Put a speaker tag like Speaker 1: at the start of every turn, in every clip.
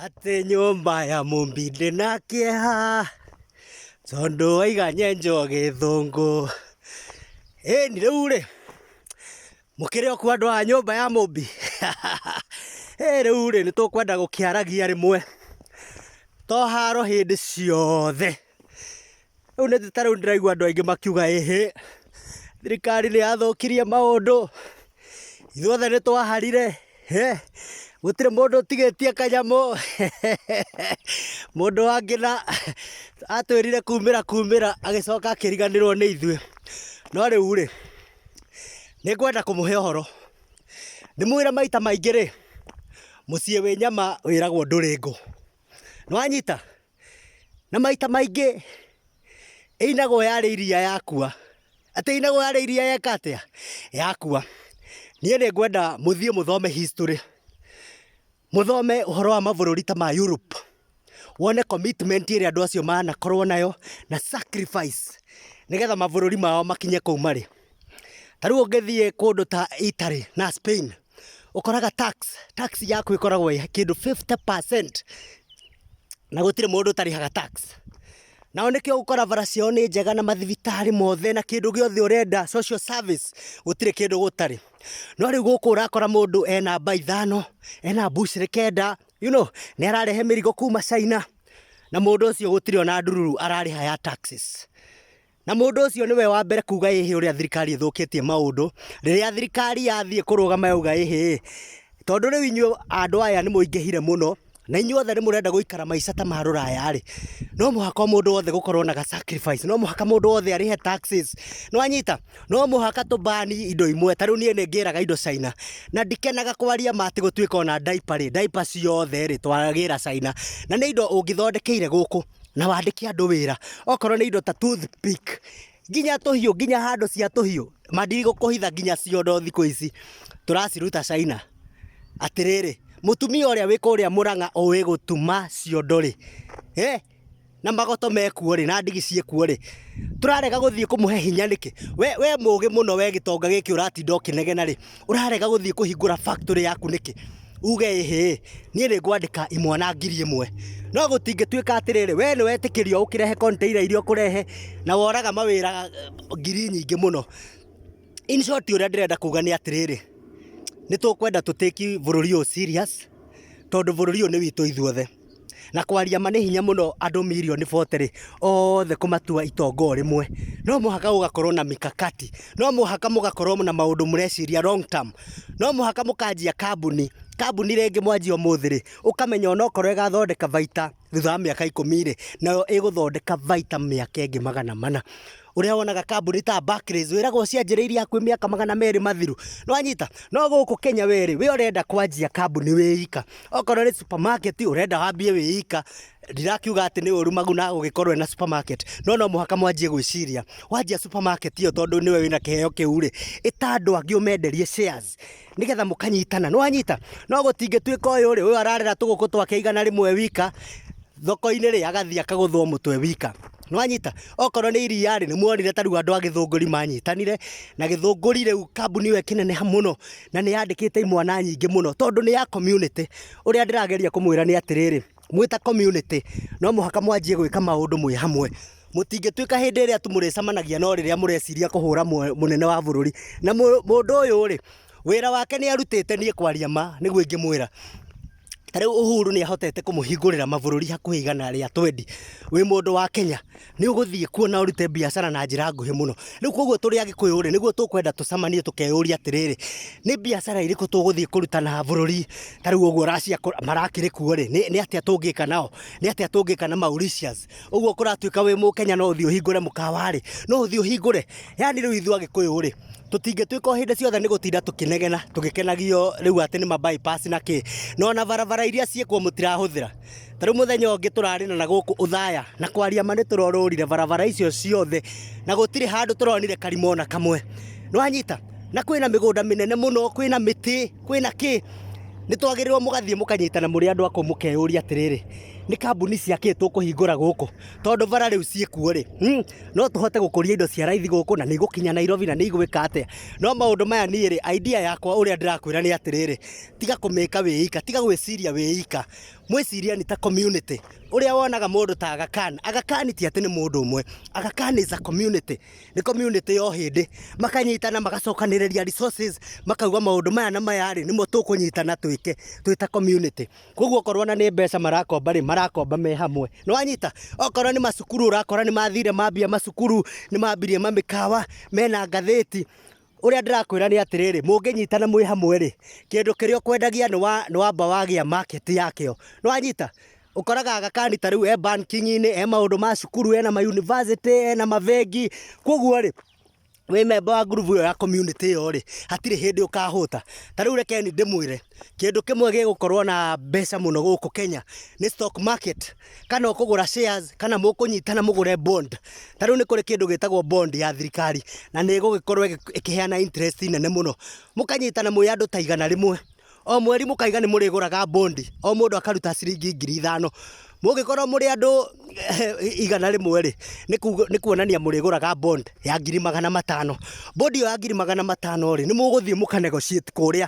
Speaker 1: atĩ nyũmba ya mũmbi ndĩ na kĩeha tondũ waiga nyenjo gĩthũngũ ĩni rĩu rĩ mũkĩrĩ o kuo andũ a nyũmba ya mũmbi ĩ rĩu rĩ nĩ tũkwenda gũkĩaragia rĩmwe to haro hĩndĩ ciothe Rĩu nĩ ta rĩu ndĩraigua andũ aingĩ makiuga ĩhĩ, thirikari nĩ yathũkirie maũndũ, ithuothe nĩ twaharire, gũtirĩ mũndũ ũtigĩtie kanyamũ, mũndũ wa Ngina atwĩrire kumĩra kumĩra agĩcoka akĩriganĩrwo nĩ ithuĩ. No rĩu rĩ, nĩ ngwenda kũmũhe ũhoro, ndĩmwĩre maita maingĩ rĩ, mũciĩ wĩ nyama wĩragwo ndũrĩ ngũ. Nĩ wanyita? na maita maingĩ ĩinagwo yarĩ iria yakua. Atĩ ĩinagwo yarĩ iria yeka atĩa? Yakua. Niĩ nĩ ngwenda mũthiĩ mũthome history, mũthome ũhoro wa mabũrũri ta ma Europe, wone commitment ĩrĩa andũ acio manakorwo nayo na sacrifice nĩgetha mabũrũri mao makinye kũu marĩ. Ta rĩu ũngĩthiĩ kũndũ ta Italy na Spain, ũkoraga tax, tax yaku ĩkoragwo ĩ kĩndũ fifty percent na gũtirĩ mũndũ ũtarĩhaga tax. Nao nĩkĩo ũgũkora bara ciao nĩ njega na mathibitarĩ mothe na kĩndũ gĩothe ũrenda, social service, gũtirĩ kĩndũ gũtarĩ. No rĩu gũkũ ũrakora mũndũ ena mba ithano, ena mbucĩrĩ kenda, you know, nĩ ararehe mĩrigo kuma China, na mũndũ ũcio gũtirĩ ona ndururu ararĩha ya taxes. Na mũndũ ũcio nĩwe wa mbere kuga ĩhĩ ũrĩa thirikari ĩthũkĩtie maũndũ, rĩrĩa thirikari yathiĩ kũrũgama yauga ĩhĩ ĩ, tondũ rĩu inyuĩ andũ aya nĩ mũingĩhire mũno, na inyuĩ othe nĩ mũrenda gũikara maica ta ma rũraya rĩ, no mũhaka o mũndũ wothe gũkorwo na ga sacrifice, no mũhaka mũndũ wothe arĩhe taxes, nĩ wanyita? No mũhaka tũ ban indo imwe, ta rĩu niĩ nĩ ngĩraga indo China, na ndikenaga kwaria ma atĩ gũtuĩka ona diaper rĩ, diaper ciothe rĩ, twagĩra China, na nĩ indo ũngĩthondekeire gũkũ. na wandĩke andũ wĩra okorwo nĩ indo ta toothpick nginya tũhiũ nginya handũ cia tũhiũ mandirigũ kũhitha nginya ciondo thikũ ici tũraciruta China atĩrĩrĩ mũtumia ũrĩa wĩ kũrĩa mũrang'a ũĩ gũtuma ciondo rĩ eh, na magoto mekuo rĩ na ndigi ciĩkuo rĩ tũrarega gũthiĩ kũmũhe hinya nĩkĩ we, we mũgĩ mũno we gĩtonga gĩkĩ ũratinda ũkĩnegena rĩ ũrarega gũthiĩ kũhingũra factory yaku nĩkĩ uge ĩhĩ niĩ nĩ ngwandĩka imwe na ngiri ĩmwe no gũtingĩtuĩka atĩrĩrĩ we nĩ wetĩkĩrio ũkĩrehe container iria ũkũrehe na woraga mawĩra eh, ngiri nyingĩ mũno in short ũrĩa ndĩrenda kuga nĩ atĩrĩrĩ nĩ tũkwenda tũtĩki bũrũri ũyũ serious tondũ bũrũri ũyũ nĩ witũ ithuothe na kwaria ma nĩ hinya mũno andũ mirioni bote rĩ, othe kũmatua itonga o rĩmwe. No mũhaka gũgakorwo na mikakati. No mũhaka mũgakorwo na maũndũ mũreciria long term. No mũhaka mũkanjia kambuni, kambuni rĩngĩ mwanjia ũmũthĩ rĩ, ũkamenya ona okorwo ĩgathondeka baita thutha wa mĩaka ikũmi rĩ, nayo ĩgũthondeka baita mĩaka ĩngĩ magana mana. ũrĩa wonaga kambuni ta Barclays wĩragwo cianjĩrĩirie hakuhĩ mĩaka magana merĩ mathiru nĩwanyita no gũkũ Kenya we rĩ we ũrenda kwanjia kambuni wĩ ika okorwo nĩ supermarket ũrenda wambie wĩ ika ndirakiuga atĩ nĩ ũru Maguna gũgĩkorwo ena supermarket no no mũhaka mwanjie gwĩciria wanjia supermarket ĩyo tondũ nĩwe wĩna kĩheo kĩu rĩ ĩta andũ angĩ ũmenderie shares nĩgetha mũkanyitana nĩwanyita no gũtingĩtuĩka ũyũ rĩ ũyũ ararera tũgũkũ twake igana rĩmwe wika thoko-inĩ rĩ agathiĩ akagũthwo mũtwe wika nĩwanyita okorwo nĩ iria rĩ nĩmuonire tarĩu andũ a gĩthũngũri manyitanire na gĩthũngũri rĩu kambuni ĩyo ĩkĩneneha mũno na nĩyandĩkĩte imwana nyingĩ mũno tondũ nĩ ya community ũrĩa ndĩrageria kũmwĩra nĩ atĩrĩrĩ. mwĩ ta community no mũhaka mwanjie gwĩka maũndũ mwĩ hamwe. Mũtingĩtuĩka hĩndĩ ĩrĩa tu mũrĩcemanagia no rĩrĩa mũreciria kũhũra mũnene wa bũrũri. Na mũndũ ũyũ rĩ, wĩra wake nĩ arutĩte niĩ kwaria ma nĩguo ingĩmwĩra. Ta rĩu Uhuru nĩ ahotete kũmũhingũrĩra mabũrũri hakuhĩ igana rĩa twendi wĩ mũndũ wa Kenya. nĩ ũgũthiĩ kuo na ũrute biacara na njĩra nguhĩ mũno. Rĩu koguo tũrĩ Agĩkũyũ rĩ, nĩguo tũkwenda tũcamanie tũkeyũria atĩrĩrĩ, nĩ biacara irĩkũ tũgũthiĩ kũruta na bũrũri ta rĩu ũguo Russia marakĩrĩ kuo rĩ, nĩ atĩa tũngĩka nao, nĩ atĩa tũngĩka na Mauritius. Ũguo kũratuĩka wĩ Mũkenya no ũthiĩ ũhingũre mũkawa rĩ, no ũthiĩ ũhingũre. Yani rĩu ithuĩ Agĩkũyũ rĩ, tũtingĩtuĩka o hĩndĩ ciothe nĩ gũtinda tũkĩnegena tũgĩkenagio rĩu atĩ nĩ ma bypass na kĩ, na ona barabara iria ciĩkuo mũtirahũthĩra. ta rĩu mũthenya ũngĩ tũrarĩ na gũkũ ũthaya na kwaria ma nĩ tũrorũrire barabara icio ciothe na gũtirĩ handũ tũronire karima ona kamwe nĩwanyita na kwĩna mĩgũnda mĩnene mũno kwĩna mĩtĩ kwĩna kĩ nĩ twagĩrĩirwo mũgathiĩ mũkanyitana mũrĩ andũ akũ mũkeyũria atĩrĩrĩ nĩ kambuni cia kĩ tũkũhingũra gũkũ tondũ bara rĩu ciĩkuo rĩ mm, no tũhote gũkũria indo cia raithi gũkũ na nĩ igũkinya nairobi na nĩ igwĩka atĩa no maũndũ maya niĩ rĩ idea yakwa ũrĩa ndĩrakwĩra nĩ atĩrĩrĩ tiga kũmĩka wĩika tiga gwĩciria wĩika mwĩciria nĩ ta community ũrĩa wonaga mũndũ ta agakan agakan ti atĩ nĩ mũndũ ũmwe agakan is a community nĩ community yo hĩndĩ makanyitana magacokanĩrĩria resources makauga maũndũ maya na maya rĩ nĩmo tũkũnyitana twĩke twĩ ta community koguo okorwo na nĩ mbeca marakomba rĩ marakomba me hamwe nĩ wanyita okorwo nĩ macukuru ũrakora nĩ mathire mambia macukuru nĩ mambirie mamĩkawa mena ngathĩti Ũrĩa ndĩrakwĩra nĩ atĩrĩrĩ, mũngĩnyitana mwĩ hamwe-rĩ, kĩndũ kĩrĩa ũkwendagia nĩ wa, nĩ wamba wagĩa market yakĩo. Nĩwanyita? Ũkoraga Agakani ta rĩu e banking -inĩ, e maũndũ ma cukuru, ena ma university, ena mabengi, kuoguo-rĩ, wĩ memba wa ngurubu ĩyo ya community ĩyo-rĩ, hatirĩ hĩndĩ ũkahũta. Ta rĩu reke niĩ ndĩmwĩre, kĩndũ kĩmwe gĩgũkorwo na mbeca mũno gũkũ Kenya nĩ stock market. kana ũkũgũra shares kana mũkũnyitana mũgũre bond. Ta rĩu nĩ kũrĩ kĩndũ gĩtagwo bond ya thirikari na nĩ ĩgũgĩkorwo ĩgĩ- ĩkĩheana interest nene mũno. Mũkanyitana mwĩ andũ ta igana rĩmwe, o mweri mũkaiga nĩ mũrĩgũraga bond, o mũndũ akaruta ciringi ngiri ithano. Mũngĩkorwo mũrĩ andũ igana rĩmwe rĩ, nĩ kuga- nĩ kuonania mũrĩgũraga bond ya ngiri magana matano. Bond ĩyo ya ngiri magana matano rĩ, nĩ mũgũthiĩ mũka negotiate kũrĩa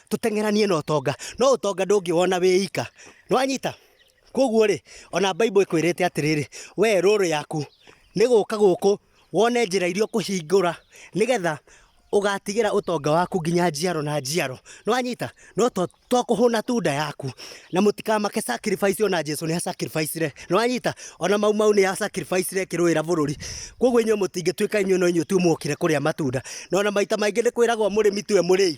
Speaker 1: tũteng'eranie na ũtonga no ũtonga ndũngĩwona wĩ ika nĩwanyita koguo rĩ ona baibũ ĩkwĩrĩte atĩrĩrĩ we rũrũ yaku nĩ gũka gũkũ wone njĩra iria ũkũhingũra nĩgetha ũgatigĩra ũtonga waku nginya njiaro na njiaro nĩwanyita no to to kũhũna tu nda yaku na mũtikamake sacrifice ona jesu nĩ sacrificire nĩwanyita ona mau mau nĩ sacrificire kĩrũĩra bũrũri koguo inyuĩ mũtingĩtuĩka inyuĩ no inyuĩ tu mũkire kũrĩa matunda na ona maita maingĩ nĩ kwĩragwo mũrĩmi tiwe mũrĩi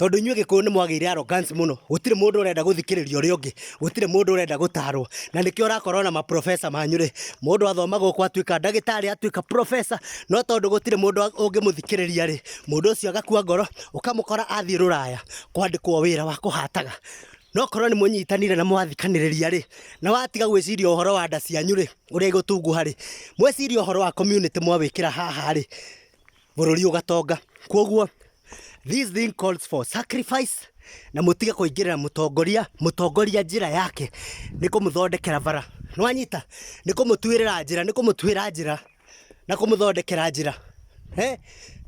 Speaker 1: tondå inyuä gä kå yå nä mwagä ire arrogance mũno gũtirĩ mũndũ ũrenda gũthikĩrĩria ũrĩa ũngĩ gũtirĩ mũndũ ũrenda gũtarwo na nĩkĩo ũrakorwo na maprofesa manyu rĩ mũndũ athoma gũkũ atuĩka ndagĩtarĩ atuĩka profesa no tondũ gũtirĩ mũndũ ũngĩmũthikĩrĩria rĩ mũndũ ũcio agakua ngoro ũkamũkora athiĩ rũraya kwandĩkwo wĩra wa kũhataga no korwo nĩ mũnyitanire na mwathikanĩrĩria rĩ na watiga gwĩciria ũhoro wa nda cianyu rĩ ũrĩa igũtunguha rĩ mwĩcirie ũhoro wa community mwawĩkĩra haha rĩ bũrũri ũgatonga. Kwoguo this thing calls for sacrifice na mũtige kũingĩrĩra mũtongoria mũtongoria njĩra yake nĩ kũmũthondekera bara nĩwanyita nĩ kũmũtuĩrĩra njĩra nĩ kũmũtuĩra njĩra na kũmũthondekera njĩra eh?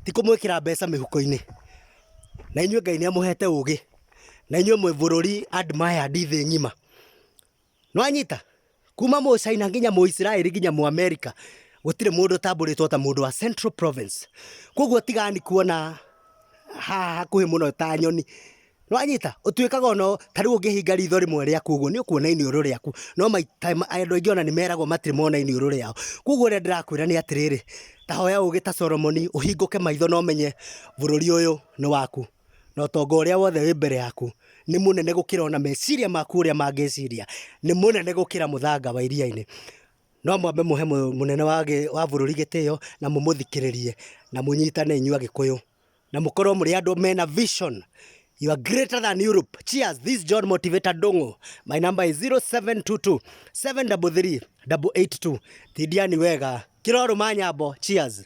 Speaker 1: ti kũmwĩkĩra mbeca mĩhuko-inĩ na inyuĩ ngai nĩ amũhete ũgĩ na inyuĩ mwĩ bũrũri admired thĩ ng'ima Nĩwanyita? Kuma Mũchina nginya Mũisiraeli nginya Mũamerica, gũtirĩ mũndũ ũtambũrĩtwo ta mũndũ wa Central Province. Kwoguo tigani kuona haha hakuhĩ mũno ta nyoni. Nĩwanyita? Ũtuĩkaga o na, ta rĩu ũngĩhinga ritho rĩmwe rĩaku ũguo, nĩũkuona iniũrũ rĩaku. No maita, andũ aingĩ o na nĩmeragwo matirĩ mona iniũrũ rĩao. Kwoguo ũrĩa ndĩrakwĩra nĩ atĩrĩrĩ, ta hoya ũgĩ ta Solomoni, ũhingũke maitho na ũmenye bũrũri ũyũ nĩ waku. Na ũtonga ũrĩa wothe wĩ mbere yaku nĩ mũnene gũkĩra o na meciria maku ũrĩa mangĩciria, nĩ mũnene gũkĩra mũthanga wa iria-inĩ. No mwambe mũhe mũnene wa bũrũri gĩtĩo na mũmũthikĩrĩrie na mũnyitane inyuĩ Agĩkũyũ na mũkorwo mũrĩ andũ mena vision. You are greater than Europe. Cheers. This is John Motivator Ndung'u. My number is 0722-733-882. Tindiani wega. Kĩrorũma nyambo. Cheers.